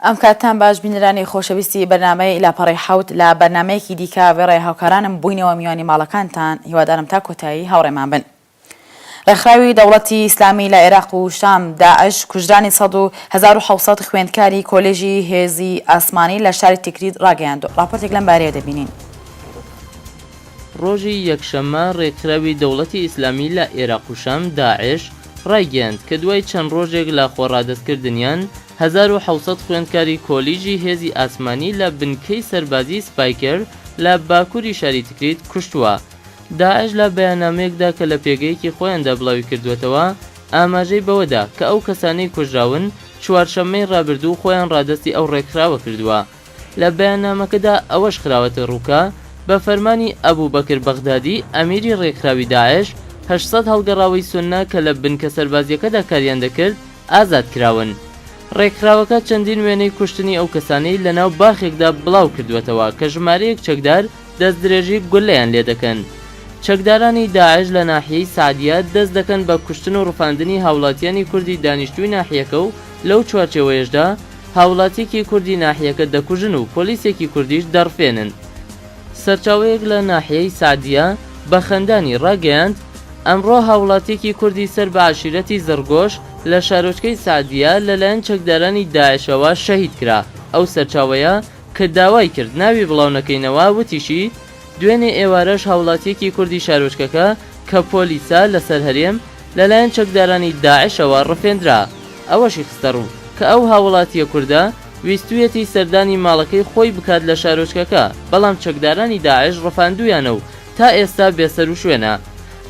ئەم کاتان باش بینرانی خۆشەویستی بەنامەی لاپەڕی حوت لە بەنمەیەکی دیکە وێڕێ هاوکارانم بووینەوە میوانی ماڵەکانتان هیوادارم تا کۆتایی هاوڕێمان بن. ڕێکخراوی دەوڵەتی ئیسلامی لە عێراق و شام، داعش، کوژرانی سەد و هەزار و حەوت سەد خوێندکاری کۆلێژی هێزی ئاسمانی لە شاری تیکریت ڕاگەیاند، ڕاپۆرتێک لەم بارەیە دەبینین. ڕۆژی یەکشەممە ڕێکخراوی دەوڵەتی ئیسلامی لە عێراق و شام، داعش، ڕایگەیاند کە دوای چەند ڕۆژێک لە خۆڕادەستکردنیان، هەزار و حەوت سەد خوێندکاری کۆلیژی هێزی ئاسمانی لە بنکەی سەربازیی سپایکر لە باکووری شاری تکریت کوشتووە. داعش لە بەیاننامەیەکدا کە لە پێگەیەکی خۆیاندا بڵاویکردووەتەوە، ئاماژەی بەوەدا کە ئەو کەسانەی کوژراون چوارشەممەی رابردوو خۆیان رادەستی ئەو رێکخراوە کردووە. لە بەیاننامەکەدا ئەوەش خراوەتەڕوو کە، بە فەرمانی ئەبو بەکر بەغدادی ئەمیری رێکخراوی داعش، هەشت سەد هەڵگەڕاوەی سوننە کە لە بنکە سەربازییەکەدا کاریان دەکرد، ئازاد کراون. ڕێکخراوەکە چەندین وێنەی کوشتنی ئەو کەسانەی لەناو باخێکدا بڵاو کردووەتەوە کە ژمارەیەک چەکدار دەستدرێژی گوللەیان لێ دەکەن. چەکدارانی داعش لە ناحیەی سەعدیە دەست دەکەن بە کوشتن و ڕفاندنی هاوڵاتیانی کوردی دانیشتووی ناحیەکە و لەو چوارچێوەیەشدا هاوڵاتیەکی کوردی ناحیەکە دەکوژن و پۆلیسێکی کوردیش دەڕفێنن. سەرچاوەیەک لە ناحیەی سەعدیە بە خەندانی ڕاگەیاند، ئەمڕۆ هاووڵاتییەکی کوردی سەر بە عەشیرەتی زڕگۆش لە شارۆچکەی سەعدیە لەلایەن چەکدارانی داعشەوە شەهید کرا، ئەو سەرچاوەیە کە داوای کرد ناوی بڵاو نەکەینەوە وتیشی، دوێنێ ئێوارەش هاووڵاتییەکی کوردی شارۆچکەکە کە پۆلیسە لەسەر هەرێم، لەلایەن چەکدارانی داعشەوە ڕفێندرا، ئەوەشی خستەڕوو، کە ئەو هاووڵاتییە کوردە، ویستویەتی سەردانی ماڵەکەی خۆی بکات لە شارۆچکەکە، بەڵام چەکدارانی داعش ڕفاندوویانە و تا ئێستا بێسەروشوێنە.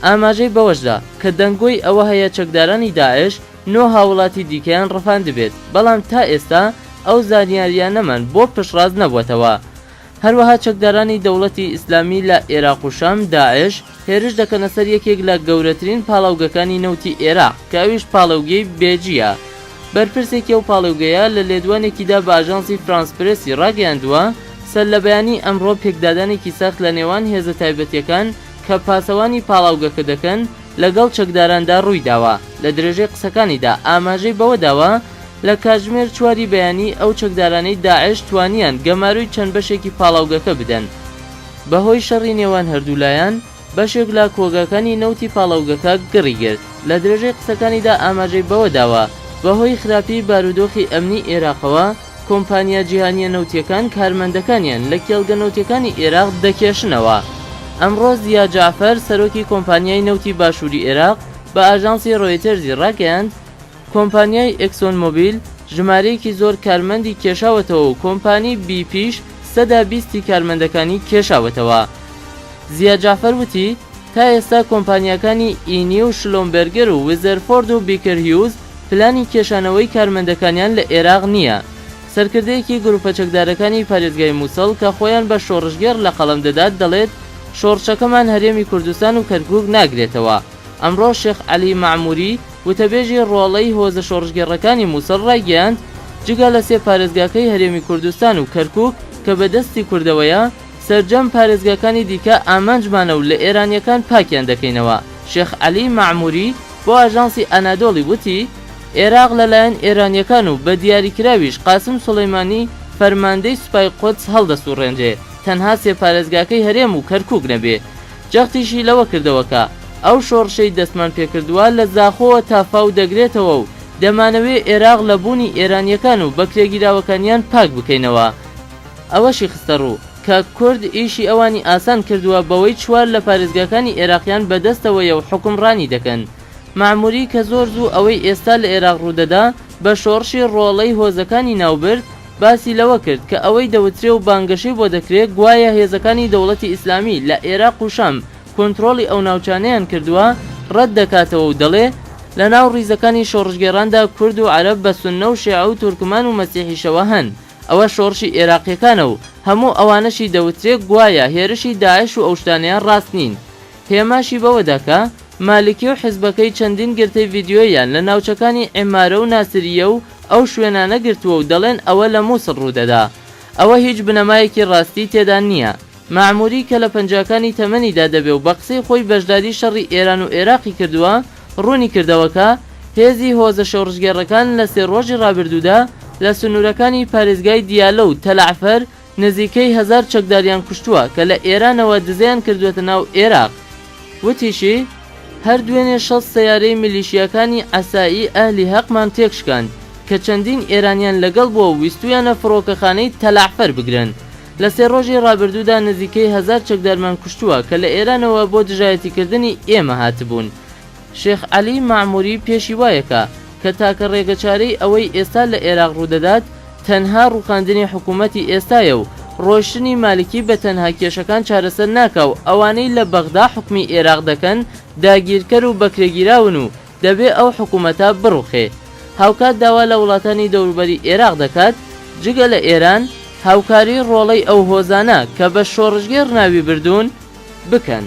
ئاماژەی بەوەشدا، کە دەنگۆی ئەوە هەیە چەکدارانی داعش نۆ هاوڵاتی دیکەیان ڕفاندبێت، بەڵام تا ئێستا ئەو زانیارییانەمان بۆ پشتڕاست نەبووەتەوە. هەروەها چەکدارانی دەوڵەتی ئیسلامی لە ئێراق و شام، داعش، هێرش دەکەنە سەر یەکێک لە گەورەترین پاڵاوگەکانی نەوتی ئێراق کە ئەویش پاڵێوگەی بێجییە. بەرپرسێکی ئەو پاڵێوگەیە لە لێدوانێکیدا بە ئاژانسی فرانس پرێسی ڕاگەیاندووە، سەرلەبەیانیی ئەمڕۆ پێکدادانێکی سەخت لە نێوان هێزە تایبەتییەکان کە پاسەوانی پاڵاوگەکە دەکەن، لەگەڵ چەکداراندا روویداوە. لە درێژەی قسەکانیدا ئاماژەی بەوەداوە، لە کاتژمێر چواری بەیانی ئەو چەکدارانەی داعش توانیان گەمارۆی چەند بەشێکی پاڵاوگەکە بدەن. بەهۆی شەڕی نێوان هەردوولایان، بەشێک لە کۆگاکانی نەوتی پاڵاوگەکە گڕی گرت. لە درێژەی قسەکانیدا ئاماژەی بەوەداوە، بەهۆی خراپی بارودۆخی ئەمنی ئێراقەوە، کۆمپانیا جیهانییە نەوتییەکان کارمەندەکانیان لە کێڵگە نەوتییەکانی ئێراق دەکێشنەوە. ئەمڕۆ زیا جەعفەر، سەرۆکی کۆمپانیای نەوتی باشووری ئێراق بە ئاژانسی رۆیتەرزی راگەیاند، کۆمپانیای ئێکسۆن مۆبیل ژمارەیەکی زۆر کارمەندی کێشاوەتەوە و کۆمپانی بی پیش سەدا بیستی کارمەندەکانی کێشاوەتەوە. زیا جەعفەر وتی، تا ئێستا کۆمپانیاکانی ئینی و شلۆمبێرگەر و ویزەرفۆرد و بیکەر هیوز پلانی کێشانەوەی کارمەندەکانیان لە ئێراق نییە. سەرکردەیەکی گروپە چەکدارەکانی پارێزگای موسڵ کە خۆیان بە شۆڕشگێڕ لە قەڵەم دەدات دەڵێت، شۆڕشەکەمان هەرێمی کوردستان و کەرکوک ناگرێتەوە. ئەمڕۆ شێخ عەلی مەعموری، وتەبێژی ڕۆڵەی هۆزە شۆڕشگێڕەکانی موسڵ ڕایگەیاند، جگە لە سێ پارێزگاکەی هەرێمی کوردستان و کەرکوک کە بە دەستی کوردەوەیە، سەرجەم پارێزگاکانی دیکە ئامانجمانە و لە ئێرانییەکان پاکیان دەکەینەوە. شێخ عەلی مەعمووری بۆ ئاژانسی ئەنادۆڵی وتی، ئێراق لەلایەن ئێرانییەکان و بە دیاریکراویش قاسم سولەیمانی فەرماندەی سوپای قودس هەڵدەسووڕێنرێ تەنها سێ پارێزگاکەی هەرێم و کەرکووک نەبێ. جەختیشی لەوە کردەوە کە، ئەو شۆڕشەی دەستمان پێکردووە لە زاخۆوە تا فاو دەگرێتەوە و دەمانەوێ ئێراق لە بوونی ئێرانییەکان و بەکرێگیراوەکانیان پاک بکەینەوە. ئەوەشی خستەڕوو، کە کورد ئیشی ئەوانی ئاسان کردووە بەوەی چوار لە پارێزگاکانی ئێراقیان بەدەستەوەیە و حوکمڕانی دەکەن. مەعموری کە زۆر زوو ئەوەی ئێستا لە ئێراق ڕوودەدا بە شۆڕشی ڕۆڵەی هۆزەکانی ناوبرد، باسی لەوە کرد کە ئەوەی دەوترێ و بانگەشەی بۆ دەکرێ گوایە هێزەکانی دەوڵەتی ئیسلامی لە ئێراق و شام کۆنترۆڵی ئەو ناوچانەیان کردووە، ڕەت دەکاتەوە و دەڵێ، لەناو ڕیزەکانی شۆڕشگێڕاندا کورد و عەرەب بە سوننە و شێعە و تورکمان و مەسیحیشەوە هەن. ئەوە شۆڕشی ئێراقیەکانە و هەموو ئەوانەشی دەوترێ گوایە هێرشی داعش و ئەوشتانەیان ڕاست نین هێماشی بەوەدا کە مالکی و حزبەکەی چەندین گرتەی ڤیدیۆییان لە ناوچەکانی عیمارە و ناسریە و ئەو شوێنانە گرتووە و دەڵێن ئەوە لە موسڵ ڕوودەدا ئەوە هیچ بنەمایەکی ڕاستی تێدا نیە. مەعموری کە لە پەنجاکانی تەمەنیدا دەبێ و بە قسەی خۆی بەشداری شەڕی ئێران و ئێراقی کردووە، ڕوونی کردەوە کە، هێزی هۆزە شۆڕشگێڕەکان لە سێ ڕۆژی ڕابردوودا لە سنوورەکانی پارێزگای دیالە و تەلەعفەر نزیکەی هەزار چەکداریان کوشتووە کە لە ئێرانەوە دزەیان کردووەتە ناو ئێراق. وتیشی، هەر دوێنێ شەست سەیارەی میلیشیاکانی عەسائیی ئەهلی هەقمان تێکشکاند کە چەندین ئێرانییان لەگەڵ بووە و ویستوویانە فڕۆکەخانەی تەلەعفەر بگرن، لە سێ ڕۆژی ڕابردوودا نزیکەی هەزار چەکدارمان کوشتووە کە لە ئێرانەوە بۆ دژایەتیکردنی ئێمە هاتبوون. شێخ عەلی مەعموری پێشی وایەکا کە تاکە ڕێگەچارەی ئەوەی ئێستا لە ئێراق ڕوودەدات تەنها ڕووخاندنی حکوومەتی ئێستایە و ڕۆیشتنی مالکی بە تەنها کێشەکان چارەسەر ناکا و ئەوانەی لە بەغدا حوکمی ئێراق دەکەن داگیرکەر و بەکرێگیراون و دەبێ ئەو حکوومەتە بڕوخێ. هاوکات داوا لە وڵاتانی دەوروبەری ئێراق دەکات جگە لە ئێران، هاوکاریی ڕۆڵەی ئەو هۆزانە کە بە شۆڕشگێڕ ناوی بردوون، بکەن.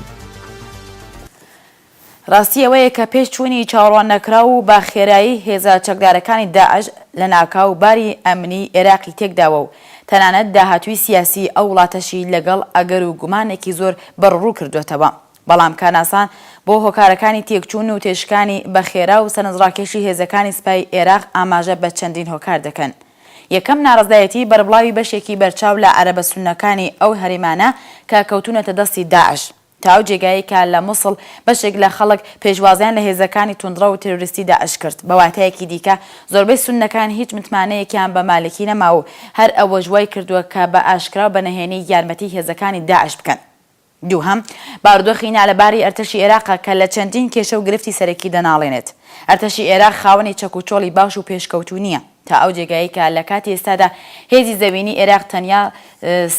ڕاستی ئەوەیە کە پێش چوونی چاوەڕواننەکراو و بە خێرایی هێزە چەکدارەکانی داعش، لەناکاو باری ئەمنیی ئێراقی تێک داوە و تەنانەت داهاتووی سیاسیی ئەو وڵاتەشی لەگەڵ ئەگەر و گومانێکی زۆر بەڕوڕو کردووەتەوە. بەڵام کاناسان بۆ هۆکارەکانی تێکچوون و تێشکانی بە خێرا و سەرنجڕاکێشی هێزەکانی سپای ئێراق ئاماژە بە چەندین هۆکار دەکەن. یەکەم، ناڕەزایەتیی بەربڵاوی بەشێکی بەرچاو لە عەرەبە سوننەکانی ئەو هەرێمانە کە کەوتوونەتە دەستی داعش، تا ئەو جێگایەی کە لە موسڵ بەشێک لە خەڵک پێشوازیان لە هێزەکانی توندڕەو تێرۆریستی داعش کرد. بە واتایەکی دیکە، زۆربەی سوننەکان هیچ متمانەیەکیان بە مالکی نەماوە و هەر ئەوەش وای کردووە کە بە ئاشکرا و بە نەهێنی یارمەتیی هێزەکانی داعش بکەن. دووهەم، بارودۆخی نالەباری ئەرتەشی ئێراقە کە لە چەندین کێشە و گرفتی سەرەکی دەناڵێنێت. ئەرتەشی ئێراق خاوەنی چەک و چۆڵی باش و پێشکەوتوو نییە، تا ئەو جێگایەی کە لە کاتی ئێستادا هێزی زەوینی ئێراق تەنیا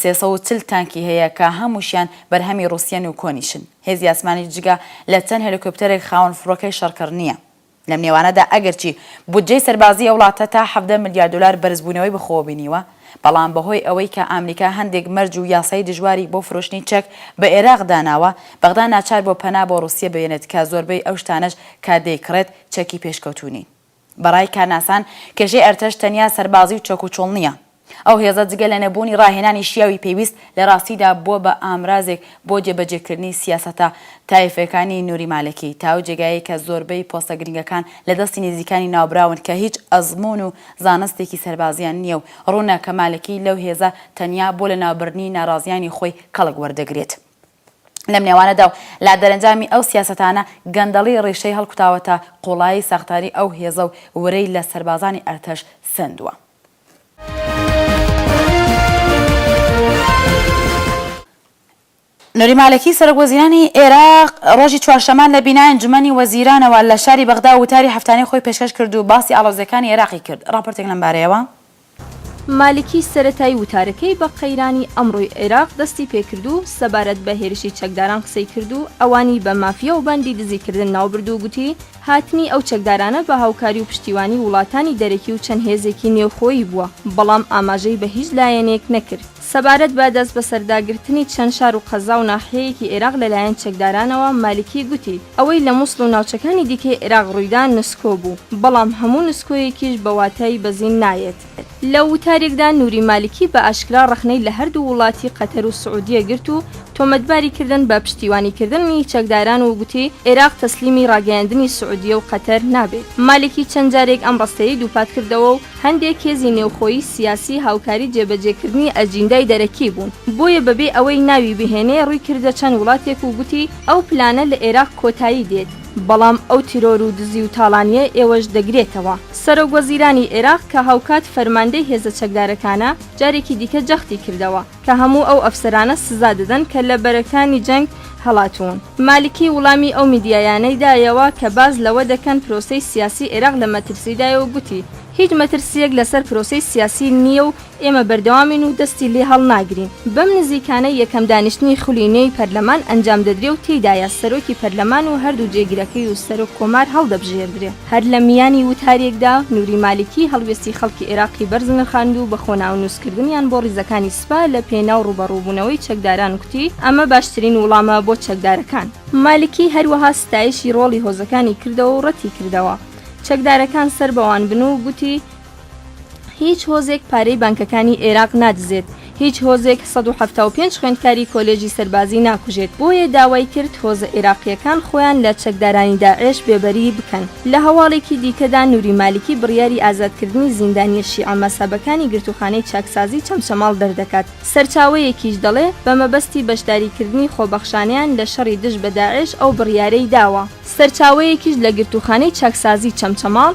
سێ سەد و چل تانکی هەیە کە هەمووشیان بەرهەمی ڕووسیەن و کۆنیشن. هێزی ئاسمانیش جگە لە چەند هێلیکۆپتەرێک خاوەن فڕۆکەی شەڕکەر نییە. لەم نێوانەدا ئەگەرچی بودجەی سەربازی ئەو وڵاتە تا حەڤدە ملیار دۆلار بەرزبوونەوەی بەخۆوە بینیوە، بەڵام بەهۆی ئەوەی کە ئامریکا هەندێک مەرج و یاسای دژواری بۆ فرۆشتنی چەک بە ئێراق داناوە، بەغدا ناچار بووە پەنا بۆ ڕووسیە بێنێت کە زۆربەی ئەو شتانەش کە دەیکڕێت چەکی پێشکەوتوو نین. بەڕای کارناسان کێشەی ئەرتەش تەنیا سەربازی و چەکوچۆڵ نییە، ئەو هێزە جگە لە نەبوونی ڕاهێنانی شیاوی پێویست، لە ڕاستیدا بووە بە ئامرازێک بۆ جێبەجێکردنی سیاسەتە تایفیەکانی نوری مالکی، تاو جێگایەی کە زۆربەی پۆستە گرنگەکان لە دەستی نزیکانی ناوبراون کە هیچ ئەزموون و زانستێکی سەربازیان نییە و ڕوونە کە مالکی لەو هێزە تەنیا بۆ لەناوبردنی ناڕازیانی خۆی کەڵک وەردەگرێت. لەم نێوانەدا و لە دەرەنجامی ئەو سیاسەتانە، گەندەڵی ڕیشەی هەڵکوتاوەتە قوڵایی ساختاری ئەو هێزە و ورەی لە سەربازانی ئەرتەش سەندووە. نوری مالکی سەرۆک وەزیرانی عێراق ڕۆژی چوارشەمان لە بینای ئەنجومەنی وەزیرانەوە لە شاری بەغدا وتاری هەفتانەی خۆی پێشکەش کرد و باسی ئاڵۆزیەکانی عێراقی کرد ڕاپۆرتێک لەم بارەیەوە. مالکی سەرەتای وتارەکەی بە قەیرانی ئەمڕۆی عێراق دەستی پێکرد و سەبارەت بە هێرشی چەکداران قسەی کرد و ئەوانی بە مافیا و باندی دزیکردن ناوبرد و گوتی، هاتنی ئەو چەکدارانە بە هاوکاری و پشتیوانی وڵاتانی دەرەکی و چەند هێزێکی نێوخۆیی بووە، بەڵام ئاماژەی بە هیچ لایەنێک نەکرد. سەبارەت بە دەستبەسەرداگرتنی چەند شار و قەزا و ناحیەیەکی ئێراق لەلایەن چەکدارانەوە، مالکی گوتی، ئەوەی لە موسڵ و ناوچەکانی دیکەی عێراق ڕوویدا نسکۆ بوو، بەڵام هەموو نسکۆیەکیش بە واتای بەزین نایەت. لە وتارێکدا نوری مالکی بە ئاشکرا ڕەخنەی لە هەردوو وڵاتی قەتەر و سعودیە گرت و تۆمەتباری کردن بە پشتیوانیکردنی چەکداران و گوتی، عێراق تەسلیمی ڕاگەیاندنی سعودیە و قەتەر نابێت. مالکی چەند جارێک ئەم ڕستەیەی دووپات کردەوە و هەندێک هێزی نێوخۆیی سیاسی هاوکاری جێبەجێکردنی ئەجیندای دەرەکی بوون، بۆیە بەبێ ئەوەی ناوی بهێنێ ڕووی کردە چەند وڵاتێک و گوتی، ئەو پلانە لە عێراق کۆتایی دێت. بەڵام ئەو تیرۆر و دزی و تاڵانیە ئێوەش دەگرێتەوە. سەرۆک وەزیرانی عێراق کە هاوکات فەرماندەی هێزە چەکدارەکانە، جارێکی دیکە جەختی کردەوە کە هەموو ئەو ئەفسەرانە سزا دەدەن کە لە بەرەکانی جەنگ هەڵاتوون. مالکی وڵامی ئەو میدیایانەی دایەوە کە باس لەوە دەکەن پرۆسەی سیاسی عێراق لە مەترسیدایە و گوتی، هیچ مەترسییەک لەسەر پرۆسەی سیاسی نییە و ئێمە بەردەوامین و دەستی لێ هەڵناگرین. بەم نزیکانە یەکەم دانیشتنی خولی نوێی پەرلەمان ئەنجام دەدرێ و تێیدایە سەرۆکی پەرلەمان و هەردوو جێگرەکەی و سەرۆک کۆمار هەڵدەبژێردرێ. هەر لە میانی وتارێکدا نوری مالکی هەڵوێستی خەڵکی عێراقی بەرز نرخاند و بە خۆناونووسکردنیان بۆ ڕیزەکانی سپا لە پێناو ڕووبەڕووبوونەوەی چەکداران کوتی، ئەمە باشترین وڵامە بۆ چەکدارەکان. مالکی هەروەها ستایشی ڕۆڵی هۆزەکانی کردەوە و ڕەتیکردەوە چەکدارەکان سەر بەوان بن و گوتی، هیچ هۆزێک پارەی بانکەکانی ئێراق نادزێت، هیچ هۆزێک سەد و حەفتا و پێنج خوێندکاری کۆلێژی سەربازی ناکوژێت، بۆیە داوای کرد هۆزە ئێراقییەکان خۆیان لە چەکدارانی داعێش بێبەری بکەن. لە هەواڵێکی دیکەدا نوری مالکی بڕیاری ئازادکردنی زیندانییە شیعە مەزهەبەکانی گرتووخانەی چاکسازی چەمچەماڵ دەردەکات، سەرچاوەیەکیش دەڵێ بە مەبەستی بەشداریکردنی خۆبەخشانەیان لە شەڕی دژ بە داعێش ئەو بڕیارەی داوە. سەرچاوەیەکیش لە گرتووخانەی چاکسازی چەمچەماڵ،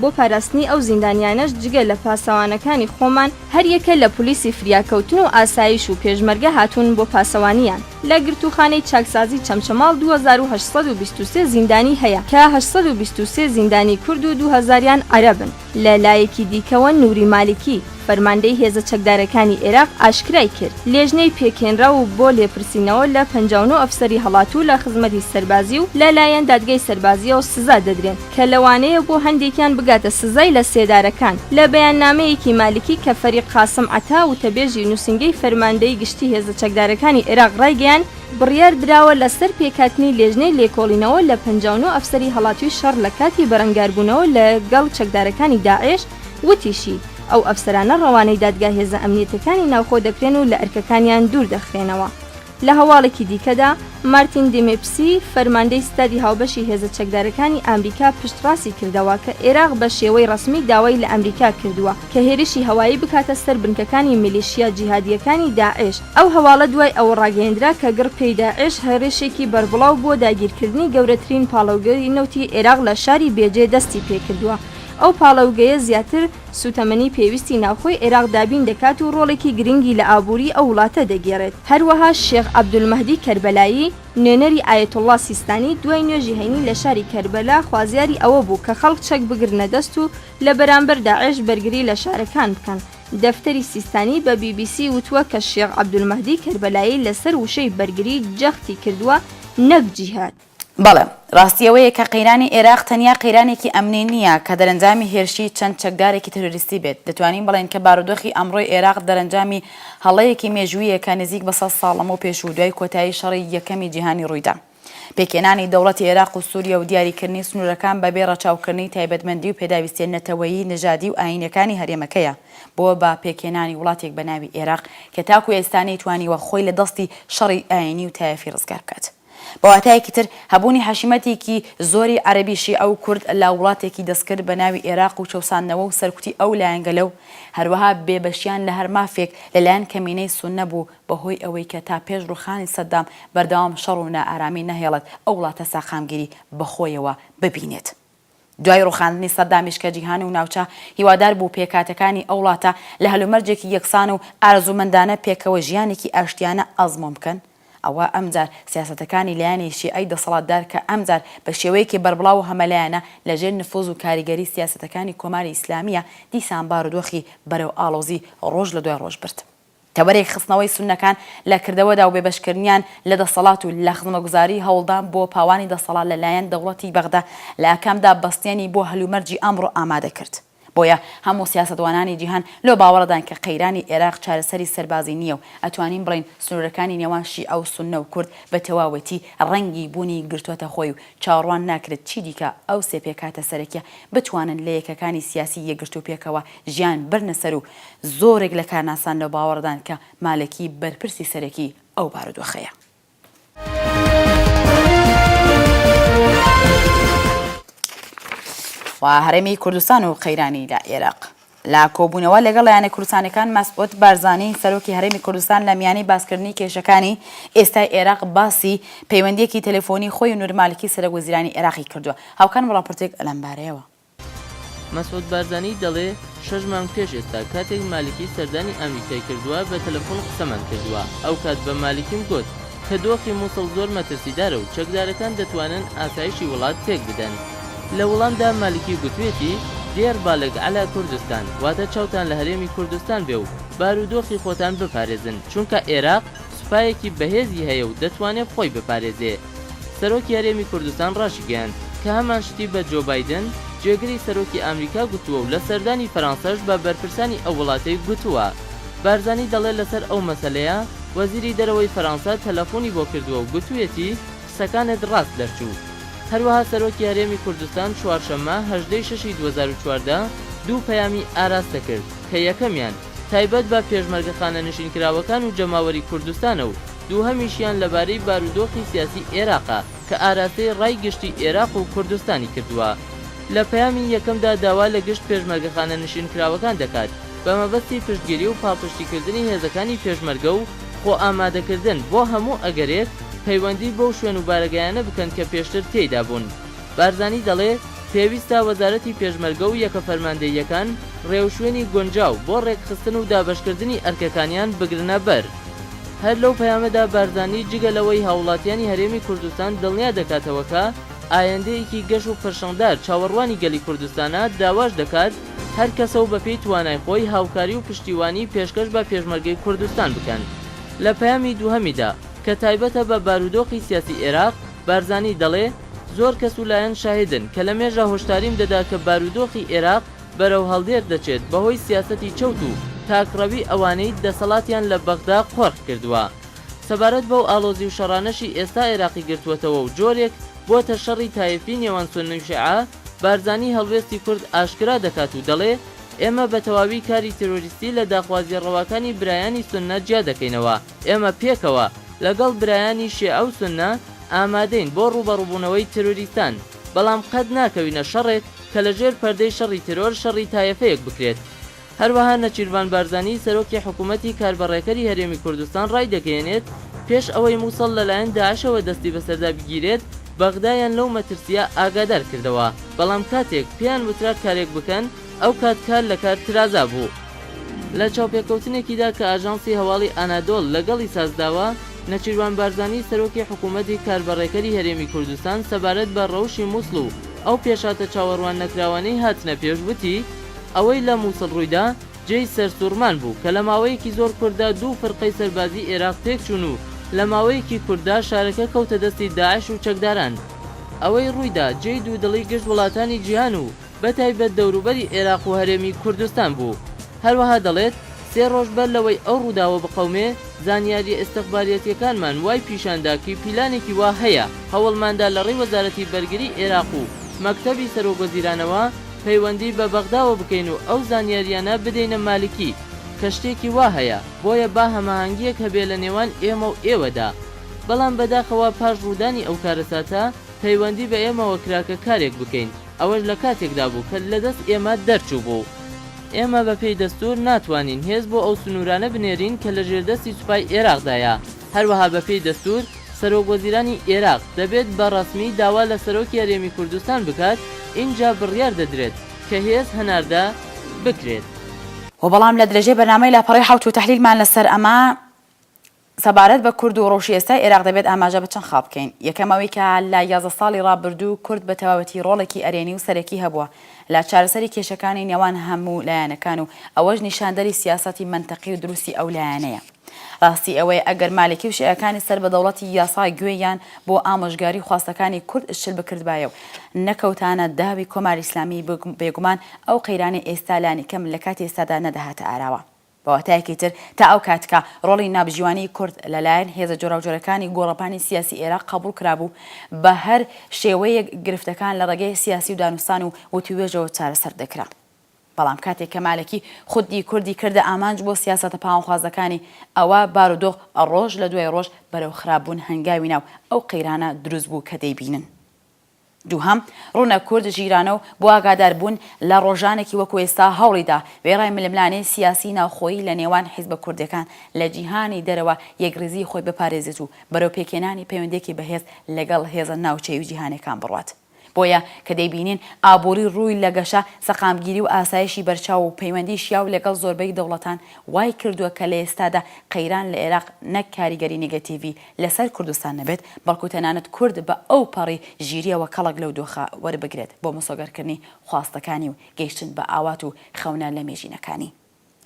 بۆ پاراستنی ئەو زیندانیانەش جگە لە پاسەوانەکانی خۆمان هەر یەکە لە پولیسی فریاکەوتن و ئاسایش و پێشمەرگە هاتوون بۆ پاسەوانیان. لە گرتووخانەی چاکسازی چەمچەماڵ دوو هەزار و هەشت سەد و بیست و سێ زیندانی هەیە کە هەشت سەد و بیست و سێ زیندانی کورد و دوو هەزاریان عەرەبن. لە لایەکی دیکەوە نوری مالکی، فەرماندەی هێزە چەکدارەکانی ئێراق ئاشکرای کرد، لێژنەی پێکهێنراو بۆ لێپرسینەوە لە پەنجا و نۆ ئەفسەری هەڵاتوو لە خزمەتی سەربازی و لە لایەن دادگای سەربازییەوە سزا دەدرێن. کە لەوانەیە بۆ هەندێکیان بگاتە سزای لە سێدارەکان. لە بەیاننامەیەکی مالکی کە فەریق قاسم عەتا وتەبێژی نووسینگەی فەرماندەیی گشتی هێزە چەکدارەکانی عێراق ڕایگەیاند، بڕیار دراوە لەسەر پێکهاتنی لێژنەی لێکۆڵینەوە لە پەنجا و نۆ ئەفسەری هەڵاتووی شەڕ لە کاتی بەرەنگاربوونەوە لە گەڵ چەکدارەکانی داعێش، وتیشی، ئەو ئەفسەرانە ڕەوانەی دادگا هێزە ئەمنیەتەکانی ناوخۆ دەکرێن و لە ئەرکەکانیان دوور دەخرێنەوە. لە هەواڵێکی دیکەدا، مارتین دیمیپسی، فەرماندەی ستادی هاوبەشی هێزە چەکدارەکانی ئامریکا پشتڕاستی کردەوە کە ئێراق بە شێوەی ڕەسمی داوای لە ئەمریکا کردووە کە هێرشی هەوایی بکاتە سەر بنکەکانی میلیشیا جیهادییەکانی داعش. ئەو هەواڵە دوای ئەوە ڕاگەیەندرا کە گڕ پێی داعش هێڕشێکی بەربڵاو بۆ داگیرکردنی گەورەترین پاڵەوگەی نەوتی ئێراق لە شاری بێجێ دەستی پێکردووە. ئەو پاڵەوگەیە زیاتر. سووتەمەنی پێویستی ناوخۆی عێراق دابین دەکات و ڕۆڵێکی گرنگی لە ئابووری ئەو وڵاتە دەگێڕێت. هەروەها شێخ عەبدولمەهدی کەربەلایی، نوێنەری ئایەتوڵڵا سیستانی، دوای نوێژی هەینی لە شاری کەربەلا خوازیاری ئەوە بوو کە خەڵک چەک بگرنە دەست و لە بەرامبەر داعش بەرگری لە شارەکان بکەن. دەفتەری سیستانی بە بی بی سی وتووە کە شێخ عەبدولمەهدی کەربەلایی لەسەر وشەی بەرگری جەختی کردووە نەک جیهاد. بەڵێ، ڕاستی ئەوەیە کە قەیرانی ئێراق تەنیا قەیرانێکی ئەمنی نییە کە دەرەنجامی هێرشی چەند چەکدارێکی تێرۆریستی بێت، دەتوانین بڵێین کە بارودۆخی ئەمڕۆی ئێراق دەرەنجامی هەڵەیەکی مێژوویە کە نزیک بە سەد ساڵ لەمەو پێش و دوای کۆتایی شەڕی یەکەمی جیهانی ڕوویدا. پێکهێنانی دەوڵەتی ئێراق و سووریا و دیاریکردنی سنوورەکان بەبێ ڕەچاوکردنی تایبەتمەندی و پێداویستییە نەتەوەیی، نەژادی و ئایینییەکانی هەرێمەکەیە بۆ بە پێکهێنانی وڵاتێک بە ناوی ئێراق کە تاکو ئێستا نەیتوانیوە خۆی لە دەستی شەڕی ئایینی و تایەفی ڕزگار بکات. بە واتایەکی تر، هەبوونی حەشیمەتێکی زۆری عەرەبی شیعە و کورد لە وڵاتێکی دەستکرد بە ناوی ئێراق و چەوساندنەوە و سەرکوتی ئەو لایەنگەلە و هەروەها بێبەشیان لە هەر مافێک لە لایەن کەمینەی سوننە بوو بە هۆی ئەوەی کە تا پێش ڕووخانی سەددام بەردەوام شەڕ و نائارامی نەهێڵێت ئەو وڵاتە ساقامگیری بە خۆیەوە ببینێت. دوای ڕوخاندنی سەدامیش کە جیهان و ناوچە هیوادار بوو پێکهاتەکانی ئەو وڵاتە لە هەلومەرجێکی یەکسان و ئارەزوومەندانە پێکەوە ژیانێکی ئاشتیانە ئەزموون بکەن، ئەوا ئەمجار سیاسەتەکانی لایەنی شیعەی دەسەڵاتدار کە ئەمجار بە شێوەیەکی بەربڵاو و هەمەلایەنە لە ژێر نفوز و کاریگەری سیاسەتەکانی کۆماری ئیسلامییە دیسان بارودۆخی بەرەو ئاڵۆزی ڕۆژ لە دوای ڕۆژ برد. تەوەرێک خستنەوەی سوننەکان لە کردەوەدا و بێبەشکردنیان لە دەسەڵات و لە خزمەگوزاریی هەوڵدان بۆ پاوانی دەسەڵات لە لایەن دەوڵەتی بەغدا لە ئاکامدا بەستێنی بۆ هەلومەرجی ئەمڕۆ ئامادە کرد. بۆیە هەموو سیاسەتوانانی جیهان لەو باوەڕەدان کە قەیرانی ئێراق چارەسەری سەربازی نییە و ئەتوانین بڵێین سنوورەکانی نێوان شیعە و سوننە و کورد بە تەواوەتی ڕەنگی بوونی گرتۆتە خۆی و چاوەڕوان ناکرێت چیدیکە ئەو سێ پێکهاتە سەرەکییە بتوانن لە یەکەکانی سیاسی یەکگرتوو پێکەوە ژیان بەرنە سەر و زۆرێک لە کارناسان لەو باوەڕەدان کە مالکی بەرپرسی سەرەکی ئەو بارودۆخەیە. و هەرێمی کوردستان و قەیرانی لە ئێراق. لە کۆبوونەوە لەگەڵ لایەنە کوردستانەکان مەسعود بارزانی سەرۆکی هەرێمی کوردستان لە میانی باسکردنی کێشەکانی ئێستای ئێراق باسی پەیوەندیەکی تەلەفۆنی خۆی و نورمالکی سەرەک وەزیرانی ئێراقی کردووە هاوکان وڵاپرتێک ئەلەمبارەیەوە مەسعود بارزانی دەڵێ شەش مانگ پێش ئێستا کاتێک مالکی سەردانی ئامریکای کردوە بە تەلەفون قسەمان کردوە ئەوکات بە مالکیم گۆت کە دۆخی موسڵ زۆر مەترسیدارە و چەکدارەکان دەتوانن ئاسایشی وڵات تێک بدەن لە وڵامدا مالکی گوتوێتی دێر بالگ علی کردستان واتە چاوتان لە هەرێمی کوردستان بێ و بارودۆخی خۆتان بپارێزن چونکە ئێراق سوپایەکی بەهێزی هەیە و دەتوانێ خۆی بپارێزێ. سەرۆکی هەرێمی کوردستان راشیگەیاند کە هەمان شتی بە جۆ بایدن، جێگری سەرۆکی ئامریکا گوتووە و لە سەردانی فەرانسەش بە بەرپرسانی ئەو وڵاتەی گوتووە. بارزانی دەڵێ لەسەر ئەو مەسەلەیە وەزیری دەرەوەی فەرانسە تەلەفوونی بۆ کردووە و گوتوویەتی، قسەکانت راست دەرچوو. هەروەها سەرۆکی هەرێمی کوردستان چوارشەممە هەژدە ی شەش ی دوو هەزار و چواردە دوو پەیامی ئاراستە کرد کە یەکەمیان، تایبەت بە پێشمەرگە خانەنشینکراوەکان و جەماوەری کوردستانە و دووهەمیشیان لەبارەی بارودۆخی سیاسی ئێراقە کە ئاراستەی ڕای گشتی ئێراق و کوردستانی کردووە. لە پەیامی یەکەمدا داوا لە گشت پێشمەرگە خانەنشینکراوەکان دەکات بە مەبەستی پشتگیری و پاڵپشتیکردنی هێزەکانی پێشمەرگە و خۆئامادەکردن بۆ هەموو ئەگەرێک، پەیوەندی بەو شوێن و بارەگایانە بکەن کە پێشتر تێیدا بوون. بارزانی دەڵێ، پێویستە وەزارەتی پێشمەرگە و یەکە فەرماندەییەکان ڕێوشوێنی گونجاو بۆ ڕێکخستن و دابەشکردنی ئەرکەکانیان بگرنە بەر. هەر لەو پەیامەدا بارزانی جگە لەوەی هاووڵاتیانی هەرێمی کوردستان دڵنیا دەکاتەوە کە ئایندەیەکی گەش و پرشنگدار چاوەڕوانی گەلی کوردستانە، داواش دەکات هەر کەسە و بەپێی توانای خۆی هاوکاری و پشتیوانی پێشکەش بە پێشمەرگەی کوردستان بکەن. لە پەیامی دووهەمیدا کە تایبەتە بە بارودۆخی سیاسی ئێراق، بارزانی دەڵێ، زۆر کەس و لایەن شاهیدن کە لە مێژە هۆشداریم دەدا کە بارودۆخی ئێراق بەرەو هەڵدێر دەچێت بەهۆی سیاسەتی چەوت و تاکڕەوی ئەوانەی دەسەڵاتیان لە بەغدا قۆرخ کردووە. سەبارەت بەو ئاڵۆزی و شەڕانەشی ئێستا ئێراقی گرتووەتەوە و جۆرێک بووەتە شەڕی تایەفی نێوان سوننە و شیعە، بارزانی هەڵوێستی کورد ئاشکرا دەکات و دەڵێ، ئێمە بە تەواوی کاری ترۆریستی لە داخوازییە ڕەواکانی برایانی سوننە جیا دەکەینەوە. ئێمە پێکەوە لەگەڵ برایانی شێعە و سوننە ئامادەین بۆ ڕووبەڕووبوونەوەی تێرۆریستان، بەڵام قەت ناکەوینە شەڕێک کە لە ژێر پەردەی شەڕی تێرۆر شەڕی تایەفەیەک بکرێت. هەروەها نەچیرڤان بارزانی سەرۆکی حکوومەتی کاربەڕێکەری هەرێمی کوردستان ڕایدەگەیەنێت، پێش ئەوەی مووسڵ لەلایەن داعشەوە دەستی بەسەردا بگیرێت، بەغدایان لەو مەترسییە ئاگادار کردەوە، بەڵام کاتێک پێیان وترا کارێک بکەن، ئەو کات کار لە کار ترازا بوو. لە چاوپێکەوتنێکیدا کە ئاژانسی هەواڵی ئانادۆڵ لەگەڵی سازداوە، نەچیروان بارزانی سەرۆکی حکوومەتی کاربەڕێکەری هەرێمی کوردستان سەبارەت بە رەوشی مووسڵ و ئەو پێشهاتە چاوەڕوان نەکراوانەی هاتنە پێش وتی، ئەوەی لە مووسڵ روویدا جێی سەرسووڕمان بوو کە لە ماوەیەکی زۆر کورتدا دوو فرقەی سەربازی ئێراق تێکچوون و لە ماوەیەکی کورتدا شارەکە کەوتە دەستی داعش و چەکداران. ئەوەی روویدا جێی دوودڵی گشت وڵاتانی جیهان و بەتایبەت دەوروبەری ئێراق و هەرێمی کوردستان بوو. هەروەها دەڵێت، سێ رۆژ بەر لەوەی ئەو رووداوە بقەومێ، زانیارییە ئیستخباریەتییەکانمان وای پیشاندا کی پیلانێکی وا هەیە، هەوڵماندا لە رێی وەزارەتی بەرگری ئێراق و مەکتەبی سەرۆکوەزیرانەوە پەیوەندی بە بەغداوە بکەین و ئەو زانیارییانە بدەینە مالکی کە شتێکی وا هەیە، بۆیە با هەماهەنگییەک هەبێ لە نێوان ئێمە و ئێوەدا. بەڵام بەداخەوە پاش روودانی ئەو کارەساتە، پەیوەندی بە ئێمەوە کرا کە کارێک بکەین. ئەوەش لە کاتێکدا بوو کە لە دەست ئێمە دەرچووبوو. ئێمە بە پێی دەستوور ناتوانین هێز بۆ ئەو سنوورانە بنێرین کە لە ژێردەستی سوپای ئێراقدایە، هەروەها بە پێی دەستوور سەرۆک وەزیرانی ئێراق دەبێت بە ڕەسمی داوا لە سەرۆکی هەرێمی کوردستان بکات ئینجا بڕیار دەدرێت کە هێز هەناردە بکرێت. وە بەڵام لە درێژەی بەرنامەی لاپەڕەی حەوت و تەحلیلمان لە سەر ئەمە سەبارەت بە کورد و ڕەوشی ئێستای ئێراق دەبێت ئاماژە بە چەند خاڵ بکەین، یەکەم ئەوەی کە لە یازدە ساڵی ڕابردوو کورد بە تەواوەتی ڕۆڵێکی ئەرێنی و سەرەکی هەبووە لە چارەسەری کێشەکانی نێوان هەموو لایەنەکان و ئەوەش نیشاندەری سیاسەتی مەنتەقی و دروستی ئەو لایەنەیە. ڕاستی ئەوەیە ئەگەر مالکی و شیعەکانی سەر بە دەوڵەتی یاسا گوێیان بۆ ئامۆژگاری و خواستەکانی کورد شل بکردبایە و نەکەوتانە داوی کۆماری ئیسلامی بێگومان ئەو قەیرانەی ئێستا لانیکەم لە کاتی ئێستادا نەدەهاتە ئاراوە. بە واتایەکی تر تا ئەو کاتکە ڕۆڵی نابژیوانیی کورد لە لایەن هێزە جۆراوجۆرەکانی گۆڕەپانی سیاسی ئێراق قەبووڵ کرابوو، بە هەر شێوەیەک گرفتەکان لە ڕێگەی سیاسی و دانوستان و وتووێژەوە چارەسەر دەکرا. بەڵام کاتێک کە مالکی خودی کوردی کردە ئامانج بۆ سیاسەتە پاوانخوازەکانی، ئەوا بارودۆخ ڕۆژ لە دوای ڕۆژ بەرەو خراپبوون هەنگاوی نا و ئەو قەیرانە دروست بوو کە دەیبینن. دووهەم، ڕوونە کورد ژیرانە و بۆ ئاگادار بوون لە ڕۆژانێکی وەکو ئێستا هەوڵی دا وێڕای ململانێی سیاسی ناوخۆیی لە نێوان حیزبە کوردێکان لە جیهانی دەرەوە یەکڕیزی خۆی بپارێزێت و بەرەو پێکهێنانی پەیوەندێکی بەهێز لەگەڵ هێزە ناوچەیی و جیهانێکان بڕوات. بۆیە کە دەیبینین ئابووری ڕووی لە گەشە، سەقامگیری و ئاسایشی بەرچاو و پەیوەندی شیاو لەگەڵ زۆربەی دەوڵەتان وای کردووە کە لە ئێستادا قەیران لە ئێراق نەک کاریگەری نگەتیڤی لەسەر کوردستان نەبێت، بەڵکو تەنانەت کورد بە ئەو پەڕی ژیریەوە کەڵک لەو دۆخە وەربگرێت بۆ مسۆگەرکردنی خواستەکانی و گەیشتن بە ئاوات و خەونە لەمێژینەکانی.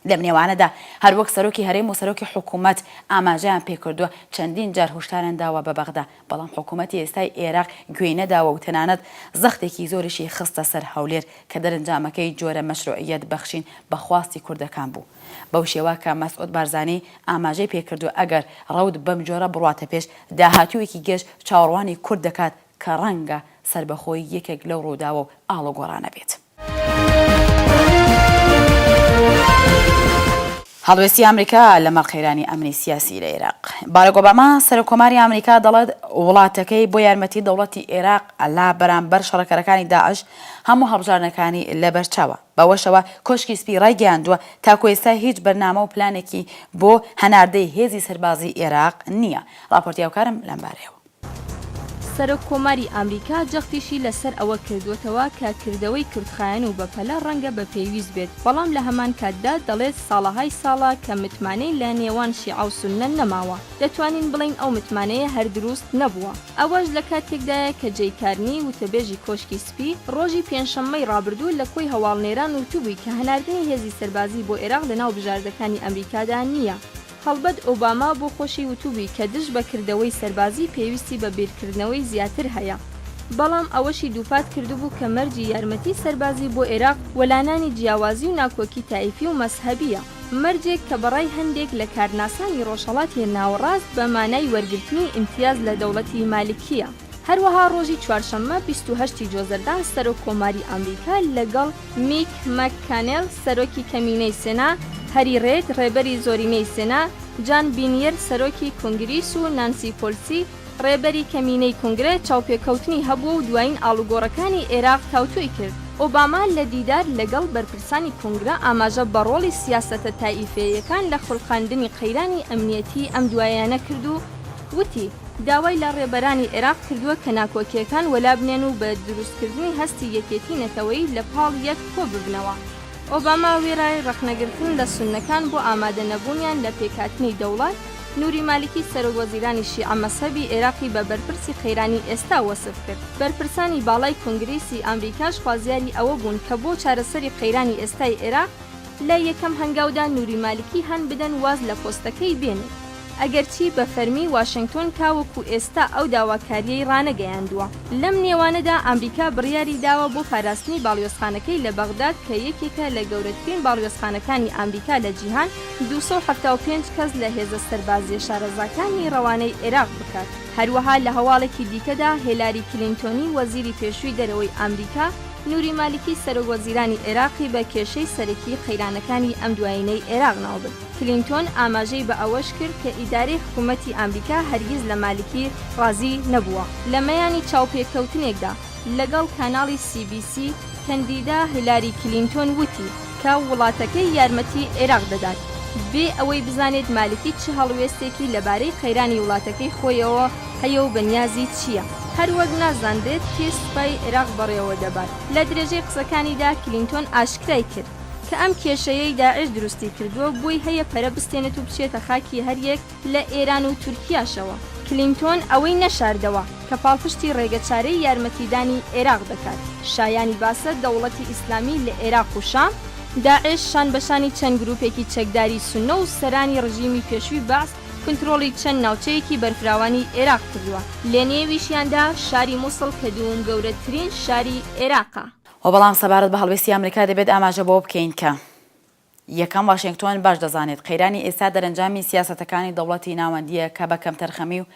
لەم نێوانەدا هەروەک سەرۆکی هەرێم و سەرۆکی حکومەت ئاماژەیان پێکردوە، چەندین جار هۆشداریان داوە بە بەغدا، بەڵام حکومەتی ئێستای ئێراق گوێی نەداوە و تەنانەت زەختێکی زۆریشی خستە سەر هەولێر کە دەرنجامەکەی جۆرە مەشروعیەت بەخشین بە خواستی کوردەکان بوو. بەو شێوە کە مەسعود بارزانی ئاماژەی پێکردووە ئەگەر رەوت بەم جۆرە بڕواتە پێش، داهاتوویەکی گێژ چاوەڕوانی کورد دەکات کە رەنگە سەربەخۆی یەکێک لەو رووداوە و ئاڵوگۆڕانە بێت. هەڵوێستی ئامریکا لەمەڕ قەیرانی ئەمنی سیاسی لە ئێراق. باراک ئۆباما، سەرۆککۆماری ئامریکا دەڵێت وڵاتەکەی بۆ یارمەتی دەوڵەتی ئێراق لە بەرامبەر شەڕکەرەکانی داعش هەموو هەڵبژاردنەکانی لەبەرچاوە. بەوەشەوە کۆشکی سپی رایگەیاندووە، تاکو ئێستا هیچ بەرنامە و پلانێکی بۆ هەناردەی هێزی سەربازیی ئێراق نییە. راپۆرتی هاوکارم لەمبارەیەوە. سەرۆک کۆماری ئامریکا جەختیشی لە سەر ئەوە کردووەتەوە کە کردەوەی کورتخایەن و بەپەلە ڕەنگە بە پێویست بێت، بەڵام لە هەمان کاتدا دەڵێت ساڵەهای ساڵە کە متمانەی لە نێوان شیعە و سوننە نەماوە، دەتوانین بڵێین ئەو متمانەیە هەر دروست نەبووە. ئەوەش لە کاتێکدایە کە جەی کارنی وتەبێژی کۆشکی سپی، ڕۆژی پێنجشەممەی ڕابردوو لە کۆی هەواڵنێران وتبووی کە هەناردنی هێزی سەربازی بۆ ئێراق لەناو بژاردەکانی ئەمریکادا نییە. هەڵبەت ئۆباما بۆ خۆشی وتبووی کە دژ بە کردەوەی سەربازی پێویستی بە بیرکردنەوەی زیاتر هەیە. بەڵام ئەوەشی دووپات کردبوو کە مەرجی یارمەتی سەربازی بۆ ئێراق وەلانانی جیاوازی و ناکۆکی تایفی و مەزهەبییە. مەرجێک کە بە ڕای هەندێک لە کارناسانی ڕۆژهەڵاتی ناوەڕاست بە مانای وەرگرتنی ئیمتیاز لە دەوڵەتی مالکییە. هەروەها ڕۆژی چوارشەممە بیست و هەشت ی جۆزەردان سەرۆک کۆماری ئامریکا لەگەڵ میک مەک کانێل سەرۆکی کەمینەی سێنا، هەری ڕێد ڕێبەری زۆرینەی سێنا، جان بینیر سەرۆکی کونگریس و نانسی پۆلسی ڕێبەری کەمینەی کونگرە چاوپێکەوتنی هەبووە و دوایین ئاڵوگۆڕەکانی ئێراق تاوتوێی کرد. ئۆباما لە دیدار لەگەڵ بەرپرسانی کونگرە ئاماژە بە ڕۆڵی سیاسەتە تائیفێیەکان لە خولقاندنی قەیرانی ئەمنیەتی ئەم دواییانە کرد و، وتی، داوای لە ڕێبەرانی عێراق کردووە کە ناکۆکییەکان وەلابنێن و بە دروستکردنی هەستی یەکێتیی نەتەوەیی لە پاڵ یەک کۆ ببنەوە. ئۆباما وێرای ڕەخنەگرتن لە سوننەکان بۆ ئامادە نەبوونیان لە پێکهاتنی دەوڵەت، نوری مالیکی سەرۆک وەزیرانی شیعە مەزهەبی عێراقی بە بەرپرسی قەیرانی ئێستا وەسف کرد. بەرپرسانی باڵای کونگرێسی ئامریکاش خوازیاری ئەوە بوون کە بۆ چارەسەری قەیرانی ئێستای عێراق لە یەکەم هەنگاودا نوری مالکی هان بدەن واز لە پۆستەکەی بێنێت. ئەگەرچی بە فەرمی واشێنگتۆن تاوەکو ئێستا ئەو داواکارییەی ڕانەگەیاندووە. لەم نێوانەدا ئامریکا بڕیاری داوە بۆ پاراستنی باڵیۆزخانەکەی لە بەغداد کە یەکێکە لە گەورەترین باڵیۆزخانەکانی ئامریکا لە جیهان، دوو سەد و حەفتا و پێنج کەس لە هێزە سەربازییە شارەزاکانی ڕەوانەی عێراق بکات. هەروەها لە هەواڵێکی دیکەدا هێلاری کلینتۆنی وەزیری پێشووی دەرەوەی ئامریکا، نوری مالکی سەرۆک وەزیرانی عێراقی بە کێشەی سەرەکی قەیرانەکانی ئەم دوایینەی عێراق ناوبرد. کلینتۆن ئاماژەی بە ئەوەش کرد کە ئیدارەی حکوومەتی ئامریکا هەرگیز لە مالکی ڕازی نەبووە. لە مەیانی چاوپێکەوتنێکدا لەگەڵ کاناڵی سی بی سی، کەندیدا هیلاری کلینتۆن وتی کە وڵاتەکەی یارمەتی عێراق دەدات، بێ ئەوەی بزانێت مالکی چ هەڵوێستێکی لەبارەی قەیرانی وڵاتەکەی خۆیەوە هەیە و بە نیازی چییە. هەروەک نازانرێت کێ سوپای عێراق بەڕێوە دەبات. لە درێژەی قسەکانیدا کلینتۆن ئاشکرای کرد، کە ئەم کێشەیەی داعش دروستی کردووە و بۆی هەیە پەرە بستێنێت و بچێتە خاکی هەریەک لە ئێران و تورکیاشەوە. کلینتۆن ئەوەی نەشاردەوە، کە پاڵپشتی ڕێگەچارەی یارمەتیدانی ئێراق دەکات. شایانی باسە دەوڵەتی ئیسلامی لە ئێراق و شام، داعش شان بە شانی چەند گروپێکی چەکداری سوننە و سەرانی ڕژیمی پێشووی بەعس کنترۆڵی چەند ناوچەیەکی بەرفراوانی ئێراق کردووە، لەنێویشیاندا شاری موسڵ کە دووم گەورەترین شاری ئێراقە. وە بەڵام سەبارەت بە هەڵوێستی ئەمریکا دەبێت ئاماژە بەوە بکەین کە یەکەم واشێنگتۆن باش دەزانێت قەیرانی ئێستا دەرەنجامی سیاسەتەکانی دەوڵەتی ناوەندییە کە بە کەمتەرخەمی و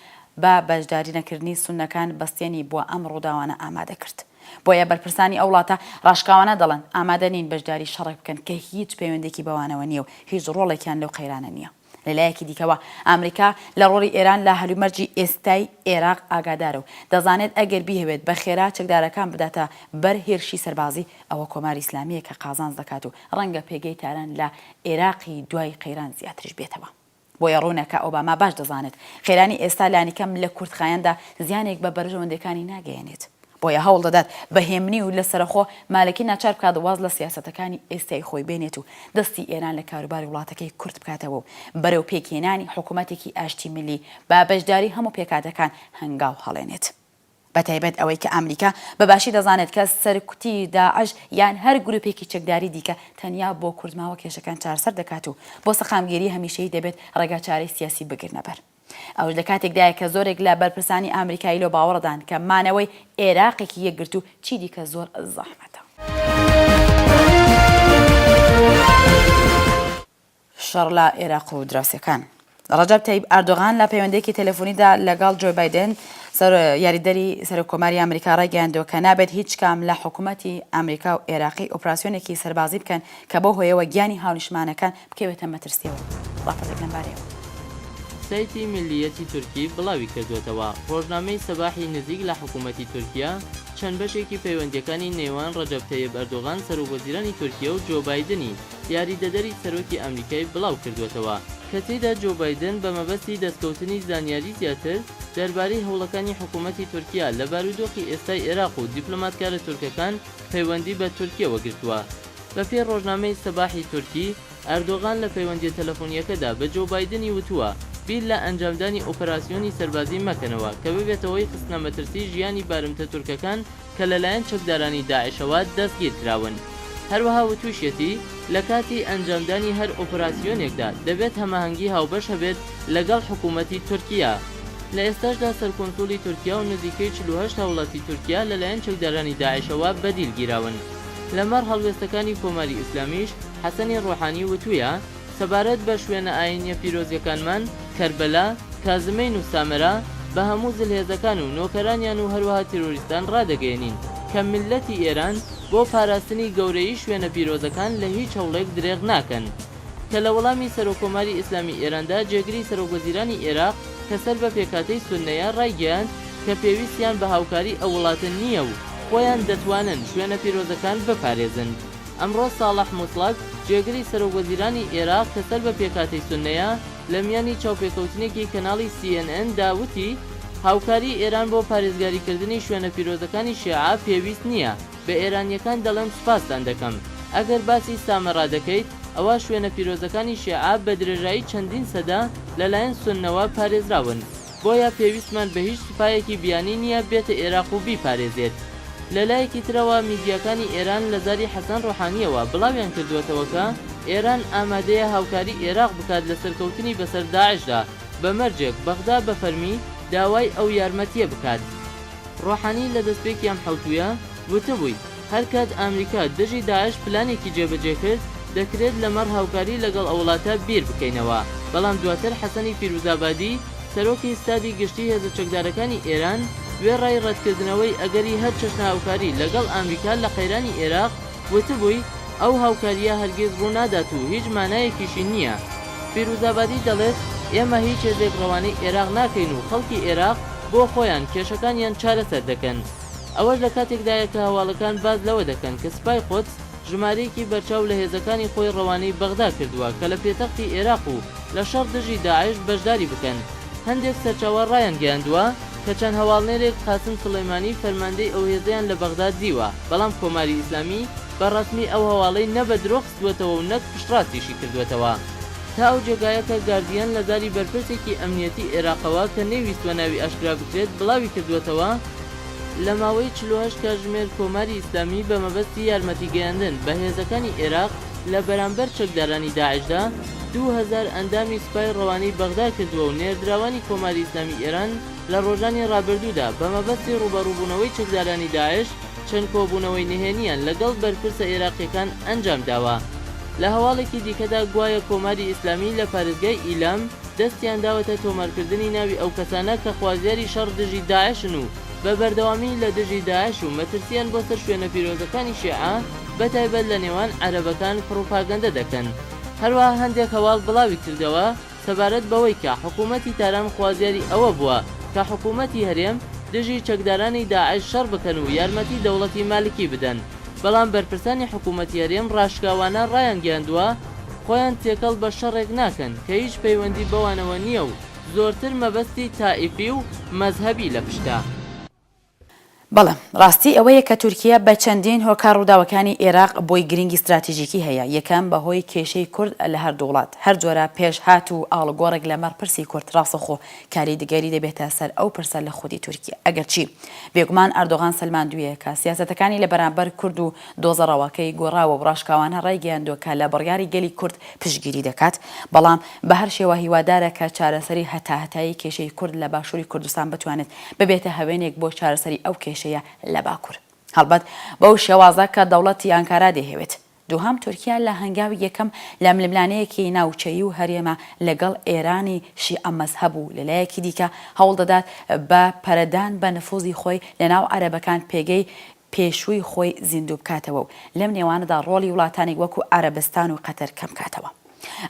بە بەشداری نەکردنی سوننەکان بەستێنی بۆ ئەم ڕووداوانە ئامادە کرد بۆیە بەرپرسانی ئەو وڵاتە ڕاشکاوانە دەڵێن ئامادە نین بەشداری شەڕێک بکەن کە هیچ پەیوەندێکی بەوانەوە نییە و هیچ ڕۆڵێکیان لەو قەیرانە نییە. لە لایەکی دیکەوە، ئامریکا لە ڕۆڵی ئێران لە هەلومەرجی ئێستای ئێراق ئاگادارە و دەزانێت ئەگەر بیهەوێت بە خێرا چەکدارەکان بداتە بەر هێرشی سەربازی، ئەوە کۆماری ئیسلامییە کە قازانج دەکات و ڕەنگە پێگەی تاران لە ئێراقی دوای قەیران زیاتریش بێتەوە. بۆیە ڕوونە کە ئۆباما باش دەزانێت قەیرانی ئێستا لانیکەم لە کورتخایەندا زیانێک بە بەرژەوەندییەکانی ناگەیەنێت. بۆیە هەوڵ دەدات بە هێمنی و لە سەرەخۆ مالکی ناچار بکات واز لە سیاسەتەکانی ئێستای خۆی بێنێت و دەستی ئێران لە کاروباری وڵاتەکەی کورت بکاتەوە و بەرەو پێکهێنانی حکوومەتێکی ئاشتی میللی با بەشداری هەموو پێکهاتەکان هەنگاو هەڵێنێت. بە تایبەت ئەوەی کە ئامریکا بە باشی دەزانێت کە سەرکوتی داعش یان هەر گرووپێکی چەکداری دیکە تەنیا بۆ کورتماوە کێشەکان چارەسەر دەکات و بۆ سەقامگیری هەمیشەیی دەبێت ڕێگاچارەی سیاسی بگرنە بەر. ئەوەش لە کاتێکدایە کە زۆرێک لە بەرپرسانی ئامریکایی لەو باوەڕەدان کە مانەوەی ئێراقێکی یەکگرتوو چی دیکە زۆر زەحمەتە. شەڕ لە ئێراق و دراوسێکان. ڕەجەب تەیب ئەردۆغان لە پەیوەندێکی تەلەفۆنیدا لەگەڵ جۆی بایدێن سەر یاریدەری سەرۆک کۆماری ئەمریکا ڕایگەیاندووە کە نابێت هیچ کام لە حکوومەتی ئەمریکا و ئێراقی ئۆپراسیۆنێکی سەربازی بکەن کە بەو هۆیەوە گیانی هاونیشتمانەکان بکەوێتە مەترسیەوە ڕاپەڕیت لەم بارەیەوە. سایتی میللیەتی تورکی بڵاویکردووەتەوە، ڕۆژنامەی سەباحی نزیک لە حکوومەتی تورکیە چەند بەشێکی پەیوەندییەکانی نێوان ڕەجەب تەیب ئەردۆغان سەرۆک وەزیرانی تورکیە و جۆ بایدنی یاریدەدەری سەرۆکی ئەمریکای بڵاوکردووەتەوە، کە تێیدا جۆ بایدن بە مەبەستی دەستکەوتنی زانیاری زیاتر دەربارەی هەوڵەکانی حکوومەتی تورکیە لە بارودۆخی ئێستای ئێراق و دیپلۆماتکارە تورکەکان پەیوەندی بە تورکیەوە گرتووە. بەپێی ڕۆژنامەی سەباحی تورکی، ئەردۆغان لە پەیوەندییە تەلەفۆنییەکەدا بە جۆو بایدنی وتووە، بیر لە ئەنجامدانی ئۆپەراسیۆنی سەربازی مەکەنەوە کە ببێتە هۆی خستنە مەترسی ژیانی بارمتە تورکەکان کە لەلایەن چەکدارانی داعشەوە دەستگیرکراون. هەروەها وتووشیەتی، لە کاتی ئەنجامدانی هەر ئۆپەراسیۆنێکدا دەبێت هەماهەنگی هاوبەش هەبێت لەگەڵ حکوومەتی تورکیا. لە ئێستاشدا سەرکونسوڵی تورکیا و نزیکەی چل و هەشت هاوڵاتی تورکیا لەلایەن چەکدارانی داعشەوە بەدیل گیراون. لەمەڕ هەڵوێستەکانی کۆماری ئیسلامیش حەسەنی ڕۆحانی وتوویە، سەبارەت بە شوێنە ئایینییە پیرۆزییەکانمان، کەربەلا، کازمەین و سامەرا، بە هەموو زلهێزەکان و نۆکەرانیان و هەروەها تیرۆریستان ڕادەگەیەنین کە میللەتی ئێران بۆ پاراستنی گەورەیی شوێنە پیرۆزەکان لە هیچ هەوڵێک درێغ ناکەن. کە لە وەڵامی سەرۆککۆماری ئیسلامیی ئێراندا جێگری سەرۆکوەزیرانی ئێراق کە سەر بە پێکهاتەی سوننەیە ڕایگەیاند کە پێویستیان بە هاوکاری ئەو وڵاتە نییە و خۆیان دەتوانن شوێنە پیرۆزەکان بپارێزن. ئەمڕۆ ساڵح موتڵەک جێگری سەرۆکوەزیرانی ئێراق کە سەر بە پێکهاتەی سوننەیە لە میانی چاوپێکەوتنێکی کەناڵی سی ئێن ئێن دا وتی هاوکاریی ئێران بۆ پارێزگاریکردنی شوێنە پیرۆزەکانی شێعە پێویست نییە. بە ئێرانیەکان دەڵێم سوپاستان دەکەم. ئەگەر باسی سامەرا دەکەیت، ئەوا شوێنە پیرۆزەکانی شێعە بە درێژایی چەندین سەدە لە لایەن سوننەوە پارێزراون. بۆیە پێویستمان بە هیچ سوپایەکی بیانی نییە بێتە ئێراق و بیپارێزێت. لە لایەکی ترەوە میدیاکانی ئێران لە زاری حەسەن ڕۆحانییەوە بڵاویان کردووەتەوە کە ئێران ئامادەیە هاوکاری ئێراق بکات لە سەرکەوتنی بەسەر داعشدا بە مەرجێک بەغدا بە فەرمی داوای ئەو یارمەتییە بکات. ڕۆحانی لە دەستپێکی ئەم حەوتوویە وتبووی، هەر کات ئامریکا دژی داعش پلانێکی جێبەجێ کرد، دەکرێت لەمەڕ هاوکاری لەگەڵ ئەو وڵاتە بیر بکەینەوە، بەڵام دواتر حەسەنی فیروزابادی، سەرۆکی ستادی گشتیی هێزە چەکدارەکانی ئێران وێڕای ڕەتکردنەوەی ئەگەری هەر چەشنە هاوکاری لەگەڵ ئامریکا لە قەیرانی ئێراق، وتبووی، ئەو هاوکارییە هەرگیز ڕوونادات و هیچ مانایەکیشی نییە. فیروزابادی دەڵێت، ئێمە هیچ هێزێک ڕەوانەی ئێراق ناکەین و خەڵکی ئێراق بۆ خۆیان کێشەکانیان چارەسەر دەکەن. ئەوەش لە کاتێکدایە کە هەواڵەکان باس لەوە دەکەن کە سپای قودس ژمارەیەکی بەرچاو لە هێزەکانی خۆی ڕەوانەی بەغدا کردووە کە لە پێتەختی ئێراق و لە شەڕ دژی داعش بەشداری بکەن. هەندێک سەرچاوە ڕایانگەیاندووە کە چەند هەواڵنێرێک قاسم سولەیمانی فەرماندەی ئەو هێزەیان لە بەغدا دیوە، بەڵام کۆماری ئیسلامی بە ڕەسمی ئەو هەواڵەی نە بە درۆ کردووەتەوە و نەک پشتڕاستیشی کردووەتەوە تا ئەو جێگایە کە گاردییەن لە زاری بەرپرسێکی ئەمنییەتی ئێراقەوە کە نەیویستووە ناوی ئاشکرا بکرێت بڵاوی کردووەتەوە، لە ماوەی چل و هەشت کاژمێر کۆماری ئیسلامی بە مەبەستی یارمەتی گەیاندن بە هێزەکانی ئێراق لە بەرامبەر چەکدارانی داعشدا دوو هەزار ئەندامی سپای ڕەوانەی بەغدا کردووە و نێردراوانی کۆماری ئیسلامی ئێران لە ڕۆژانی ڕابردوودا بە مەبەستی ڕووبەڕووبوونەوەی چەکدارانی داعش چەند کۆبوونەوەی نهێنییان لەگەڵ بەرپرسە ئێراقییەکان ئەنجامداوە. لە هەواڵێکی دیکەدا گوایە کۆماری ئیسلامی لە پارێزگای ئیلام دەستیان داوەتە تۆمارکردنی ناوی ئەو کەسانە کە خوازیاری شەڕ دژی داعشن و بە بەردەوامی لە دژی داعش و مەترسییان بۆ سەر شوێنە پیرۆزەکانی شیعە بە تایبەت لە نێوان عەرەبەکان پڕوپاگەندە دەکەن. هەروەها هەندێک هەواڵ بڵاویکردەوە، سەبارەت بەوەی کە حکوومەتی تاران خوازیاری ئەوە بووە کە حکوومەتی هەرێم دژی چەکدارانی داعش شەڕ بکەن و یارمەتی دەوڵەتی مالکی بدەن، بەڵام بەرپرسانی حکوومەتی هەرێم ڕاشکاوانە ڕایانگەیاندووە خۆیان تێکەڵ بە شەڕێک ناکەن کە هیچ پەیوەندی بەوانەوە نییە و زۆرتر مەبەستی تائیفی و مەزهەبی لە پشتە. بەڵێ، ڕاستی ئەوەیە کە تورکیە بە چەندین هۆکار ڕووداوەکانی ئێراق بۆی گرنگی ستراتیژیکی هەیە، یەکەم، بە هۆی کێشەی کورد لە هەردوو وڵات، هەر جۆرە پێشهات و ئاڵوگۆڕێک لە مەڕ پرسی کورد ڕاستەخۆ کاریدگەری دەبێتە سەر ئەو پرسە لە خودی تورکیە، ئەگەرچی بێگومان ئەردۆغان سەلماندویە کە سیاسەتەکانی لە بەرامبەر کورد و دۆزە ڕەواکەی گۆڕاوە و ڕاشکاوانە ڕایگەیاندوە کە لە بڕیاری گەلی کورد پشتگیری دەکات، بەڵام بە هەر شێوە هیوادارە کە چارەسەری هەتاهەتایی کێشەی کورد لە باشوری کوردستان بتوانێت ببێتە هەوێنێک بۆ چارەسەری ئەو کێشەیە لە باکور. هەڵبەت بەو شێوازە کە دەوڵەتی ئانکارا دەیهەوێت. دووهەم دوورکیا لە هەنگاوی یەکەم لە ململانێیەکی ناوچەیی و هەرێمە لەگەڵ ئێرانی شیعە مەزهەب و لە لایەکی دیکە هەوڵ دەدات بە پەرەدان بە نفوزی خۆی لە ناو عەرەبەکان پێگەی پێشووی خۆی زیندوو بکاتەوە و لەم نێوانەدا ڕۆڵی وڵاتانێک وەکو عەرەبستان و قەتەر کەم کاتەوە.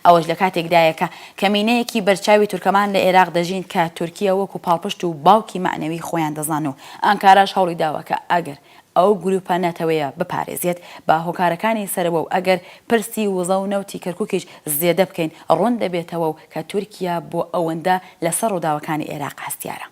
ئەوەش لە کاتێکدایە کە کەمینەیەکی بەرچاوی تورکمان لە ئێراق دەژین کە تورکیە وەکو پاڵپشت و باوکی مەعنەوی خۆیان دەزان و ئانکاراش هەوڵی داوە کە ئەگەر ئەو گروپە نەتەوەیە بپارێزێت بە هۆکارەکانی سەرەوە و ئەگەر پرسی وزە و نەوتی کەرکوکیش زێدە بکەین ڕوون دەبێتەوە و کە تورکیە بۆ ئەوەندە لە سەر ڕووداوەکانی ئێراق هەستیارە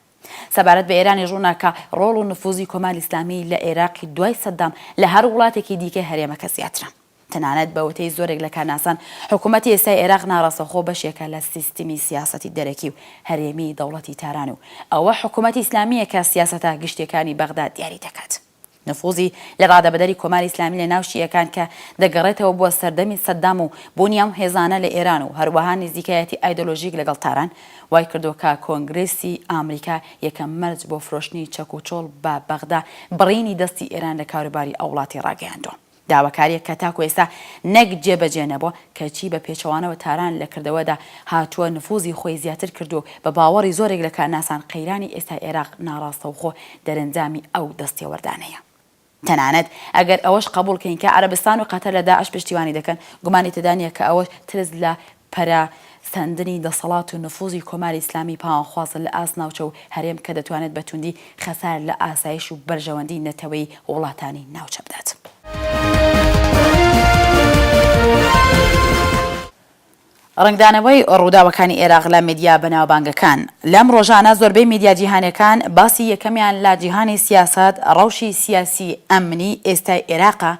سەبارەت بە ئێرانیش ڕووناکە، ڕۆڵ و نفووزی کۆماری ئیسلامی لە ئێراقی دوای سەددام لە هەر وڵاتێکی دیکەی هەرێمەکە زیاترە. تەنانەت بە وتەی زۆرێک لە کارناسان، حکوومەتی ئێستای ئێراق ناڕاستەوخۆ بەشێکە لە سیستمی سیاسەتی دەرەکی و هەرێمیی دەوڵەتی تاران و ئەوە حکوومەتی ئیسلامییە کە سیاسەتە گشتییەکانی بەغدا دیاری دەکات. نفوزی لە ڕادەبەدەری کۆماری ئیسلامی لە ناو شیعەکان کە دەگەڕێتەوە بۆ سەردەمی سەدام و بوونی ئەم هێزانە لە ئێران و هەروەها نزیکایەتی ئایدۆلۆژیک لەگەڵ تاران وای کردووە کە کۆنگرێسی ئامریکا یەکەم مەرج بۆ فرۆشتنی چەک و چۆڵ بە بەغدا بڕینی دەستی ئێران لە کاروباری ئەو وڵاتی ڕاگەیاندووە. داواکارییەک کە تاکو ئێستا نەک جێبەجێ نەبووە، کەچی بە پێچەوانەوە تاران لە کردەوەدا هاتووە نفوزی خۆی زیاتر کردووە و بە باوەڕی زۆرێک لە کارناسان قەیرانی ئێستای عێراق ناڕاستەوخۆ دەرەنجامی ئەو دەستێوەردانەیە. تەنانەت ئەگەر ئەوەش قەبووڵ کەین کە عەرەبستان و قەتەر لە داعش پشتیوانی دەکەن، گومانی تێدا نییە کە ئەوەش ترس لە پەرە سەندنی دەسەڵات و نفوزی کۆماری ئیسلامی پاوانخوازە لە ئاست ناوچە و هەرێم کە دەتوانێت بە توندی خەسار لە ئاسایش و بەرژەوەندی نەتەوەیی وڵاتانی ناوچە بدات. ڕەنگدانەوەی ڕووداوەکانی ئێراق لە میدیا بەناوبانگەکان، لەم ڕۆژانە زۆربەی میدیا جیهانیەکان باسی یەکەمیان لە جیهانی سیاسەت ڕەوشی سیاسی ئەمنی ئێستای ئێراقە،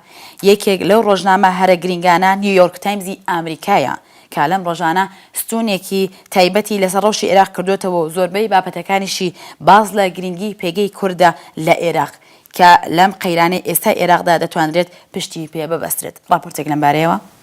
یەکێک لەو ڕۆژنامە هەرە گرینگانە نیویۆرک تایمزی ئامریکایە کە لەم ڕۆژانە ستوونێکی تایبەتی لەسەر ڕەوشی ئێراق کردۆتەوە و زۆربەی بابەتەکانیشی باس لە گرینگی پێگەی کوردە لە ئێراق کە لەم قەیرانەی ئێستای ئێراقدا دەتوانرێت پشتی پێ ببەسترێت. ڕاپۆرتێک لەمبارەیەوە.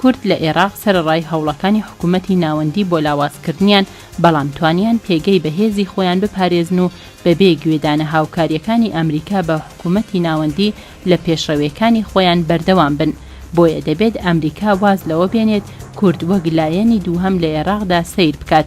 کورد لە ئێراق سەرەڕای هەوڵەکانی حکوومەتی ناوەندی بۆ لاوازکردنیان، بەڵام توانیان پێگەی بەهێزی خۆیان بپارێزن و بەبێ گوێدانە هاوکارییەکانی ئەمریکا بە حکوومەتی ناوەندی لە پێشڕەوێکانی خۆیان بەردەوام بن. بۆیە دەبێت ئەمریکا واز لەوە بێنێت کورد وەک لایەنی دووهەم لە ئێراقدا سەیر بکات،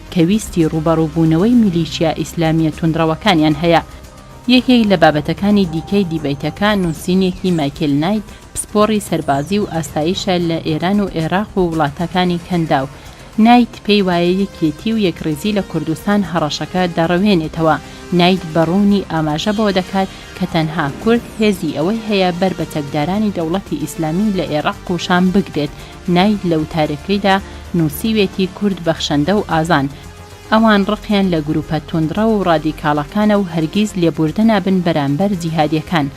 کە ویستی ڕووبەڕووبوونەوەی میلیشیا ئیسلامییە توندڕەوەکانیان هەیە. یەکێک لە بابەتەکانی دیکەی دیبەیتەکە، نووسینێکی مایکێل نایت، پسپۆڕی سەربازی و ئاسایشە لە ئێران و ئێراق و وڵاتەکانی کەنداو. نایت پێی وایە یەکێتی و یەکڕیزی لە کوردستان هەڕەشەکە دەڕەوێنێتەوە. نایت بە ڕوونی ئاماژە بەوە دەکات کە تەنها کورد هێزی ئەوەی هەیە بەر بە چەکدارانی دەوڵەتی ئیسلامی لە ئێراق و شام بگرێت، ناید لە وتارەکەیدا نووسیوێتی کورد بەخشەندە و ئازان، ئەوان ڕقیان لە گرووپە توندڕەو و ڕادیکاڵەکانە و هەرگیز لێبووردە نابن بەرامبەر جیهادییەکان،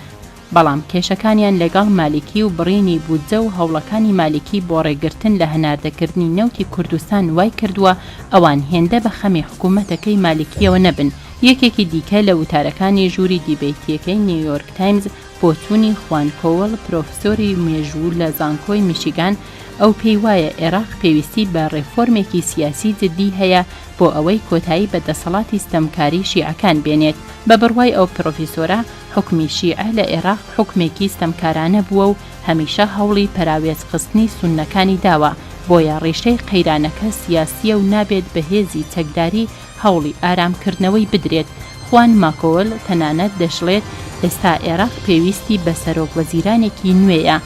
بەڵام کێشەکانیان لەگەڵ مالیکی و بڕینی بودجە و هەوڵەکانی مالیکی بۆ ڕێگرتن لە هەناردەکردنی نەوتی کوردستان وای کردووە ئەوان هێندە بە خەمی حکوومەتەکەی مالیکییەوە نەبن. یەکێکی دیکە لە وتارەکانی ژووری دیبەیتییەکەی نیویۆرک تایمز، بۆچوونی خوان کۆوڵ پرۆفسۆری مێژوو لە زانکۆی میشیگان، ئەو پێی وایە ئێراق پێویستی بە ڕێفۆرمێکی سیاسی جددی هەیە بۆ ئەوەی کۆتایی بە دەسەڵاتی ستەمکاری شیعەکان بێنێت. بە بڕوای ئەو پرۆفیسۆرە، حوکمی شیعە لە ئێراق حوکمێکی ستەمکارانە بووە و هەمیشە هەوڵی پەراوێزخستنی سوننەکانی داوە، بۆیە ڕیشەی قەیرانەکە سیاسییە و نابێت بە هێزی چەکداری هەوڵی ئارامکردنەوەی بدرێت. خوان ماکۆول تەنانەت دەشڵێت ئێستا ئێراق پێویستی بە سەرۆک وەزیرانێکی نوێیە.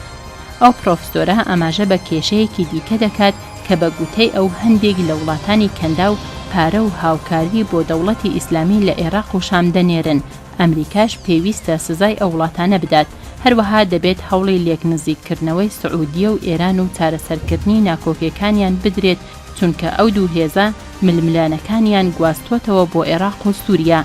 ئەو پرۆفسۆرە ئاماژە بە کێشەیەکی دیکە دەکات کە بە گوتەی ئەو هەندێک لە وڵاتانی کەنداو پارە و هاوکاری بۆ دەوڵەتی ئیسلامی لە ئێراق و شام دەنێرن، ئەمریکاش پێویستە سزای ئەو وڵاتانە بدات، هەروەها دەبێت هەوڵی لێکنزیککردنەوەی سعودیە و ئێران و چارەسەرکردنی ناکۆکێکانیان بدرێت چونکە ئەو دوو هێزە ململانێکانیان گواستووەتەوە بۆ ئێراق و سووریە.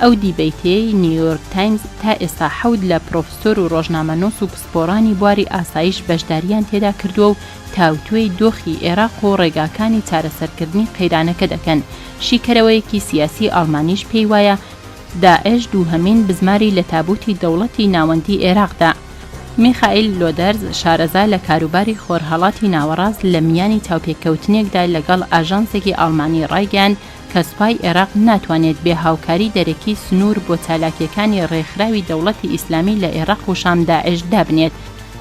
ئەو دیبەیتەی نیویۆرک تایمز تا ئێستا حەوت لە پرۆفسۆر و ڕۆژنامەنووس و پسپۆڕانی بواری ئاسایش بەشدارییان تێدا کردووە و تاوتوێی دۆخی ئێراق و ڕێگاکانی چارەسەرکردنی قەیرانەکە دەکەن، شیکەرەوەیەکی سیاسی ئاڵمانیش پێی وایە، داعش دووهەمین بزماری لە تابووتی دەوڵەتی ناوەندی ئێراقدا. میخائیل لۆدەرز، شارەزا لە کاروباری خۆرهەڵاتی ناوەڕاست لە میانی چاوپێککەوتنێکدا لەگەڵ ئاژانسێکی ئاڵمانی ڕایگەیاند کە سوپای ئێراق ناتوانێت بێ هاوکاری دەرەکی سنوور بۆ چالاکییەکانی ڕێکخراوی دەوڵەتی ئیسلامی لە ئێراق و شام داعش دابنێت.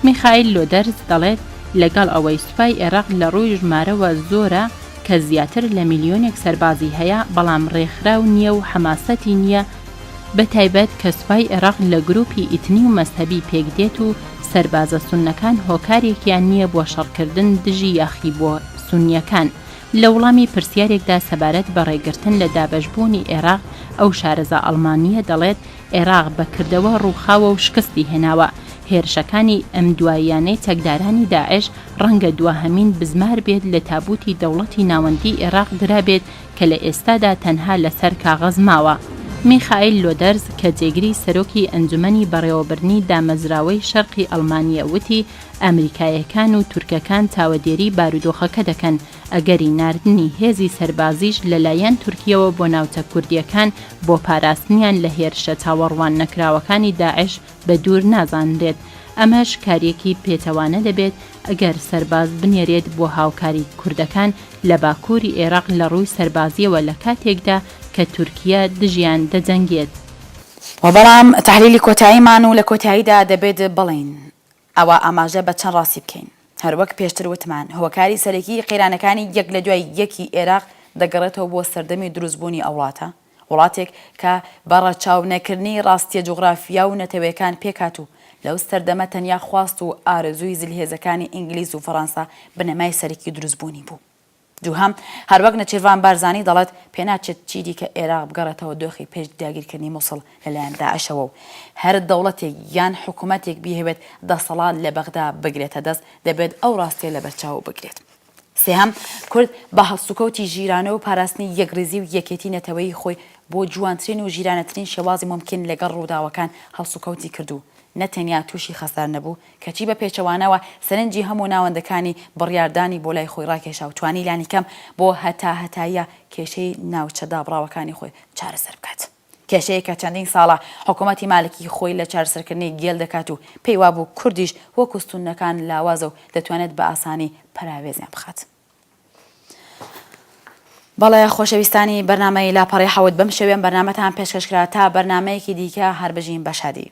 میخائیل لۆدەرز دەڵێت لەگەڵ ئەوەی سوپای ئێراق لە ڕووی ژمارەوە زۆرە، کە زیاتر لە ملیۆنێک سەربازی هەیە بەڵام ڕێکخراو نییە و حەماسەتی نییە، بە تایبەت کە سوپای عێراق لە گرووپی ئیتنی و مەزهەبی پێک دێت و سەربازە سوننەکان هۆکارێکیان نییە بۆ شەڕکردن دژی یاخی بۆ سوننیەکان، لە وڵامی پرسیارێکدا سەبارەت بە ڕێگرتن لە دابەشبوونی عێراق ئەو شارەزا ئەڵمانییە دەڵێت، عێراق بە کردەوە ڕووخاوە و شکستی هێناوە. هێرشەکانی ئەم دواییانەی چەکدارانی داعش ڕەنگە دواهەمین بزمار بێت لە تابووتی دەوڵەتی ناوەندیی عێراق درابێت کە لە ئێستادا تەنها لەسەر کاغەز ماوە. میخائیل لۆدەرز کە جێگری سەرۆکی ئەنجومەنی بەڕێوەبردنی دامەزراوەی شەرقی ئەڵمانییە وتی ئەمریکاییەکان و تورکەکان چاوەدێریی بارودۆخەکە دەکەن، ئەگەری ناردنی هێزی سەربازیش لەلایەن تورکیەوە بۆ ناوچە کوردییەکان بۆ پاراستنیان لە هێرشە چاوەڕوان نەکراوەکانی داعش بە دوور نازانرێت، ئەمەش کاریەکی پێچەوانە دەبێت ئەگەر سەرباز بنێرێت بۆ هاوکاری کوردەکان لە باکووری ئێراق لە ڕووی سەربازییەوە لە کاتێکدا کە تورکیە دژیان دەجەنگێت. وە بەڵام تەحلیلی کۆتاییمان و لە کۆتاییدا دەبێت بڵێین ئەوا ئاماژە بە چەند ڕاستی بکەین. هەروەک پێشتر وتمان، هۆکاری سەرەکیی قەیرانەکانی یەک لە دوای یەکی ئێراق دەگەڕێتەوە بۆ سەردەمی دروستبوونی ئەو وڵاتە، وڵاتێک کە بە ڕەچاو نەکردنی ڕاستییە جوغرافیا و نەتەوەیەکان پێکهات و لەو سەردەمە تەنیا خواست و ئارەزووی زلهێزەکانی ئینگلیز و فەڕانسە بنەمای سەرەکی دروستبوونی بوو. دووهەم، هەروەک نەچیرڤان بارزانی دەڵێت، پێناچێت چیدیکە ئێراق بگەڕێتەوە دۆخی پێش داگیرکردنی موسڵ لەلایەن داعشەوە و هەر دەوڵەتێک یان حکومەتێک بیهەوێت دەسەڵات لە بەغدا بگرێتە دەست دەبێت ئەو ڕاستیە لەبەرچاو بگرێت. سێهەم، کورد بە هەڵسوکەوتی ژیرانە و پاراستنی یەکڕیزی و یەکێتی نەتەوەیی خۆی بۆ جوانترین و ژیرانەترین شێوازی مومکین لەگەڵ ڕووداوەکان هەڵسوکەوتی کرد و نەتەنیا تووشی خەسار نەبوو، کەچی بە پێچەوانەوە سەرنجی هەموو ناوەندەکانی بڕیاردانی بۆ لای خۆی ڕاکێشا و توانی لانیکەم بۆ هەتاهەتاییە کێشەی ناوچە دابڕاوەکانی خۆی چارەسەر بکات. کێشەیەک کە چەندین ساڵە حکوومەتی مالکی خۆی لە چارەسەرکردنی گێل دەکات و پێی وابوو کوردیش وەکوو سوننەکان لاوازە و دەتوانێت بە ئاسانی پەراوێزیان بخات. بەڵێ خۆشەویستانی بەرنامەی لاپەڕەی حەوت بەم شێوەیەم بەرنامەتان پێشکەش کرا تا بەرنامەیەکی دیکە هەر بژین بە شادی.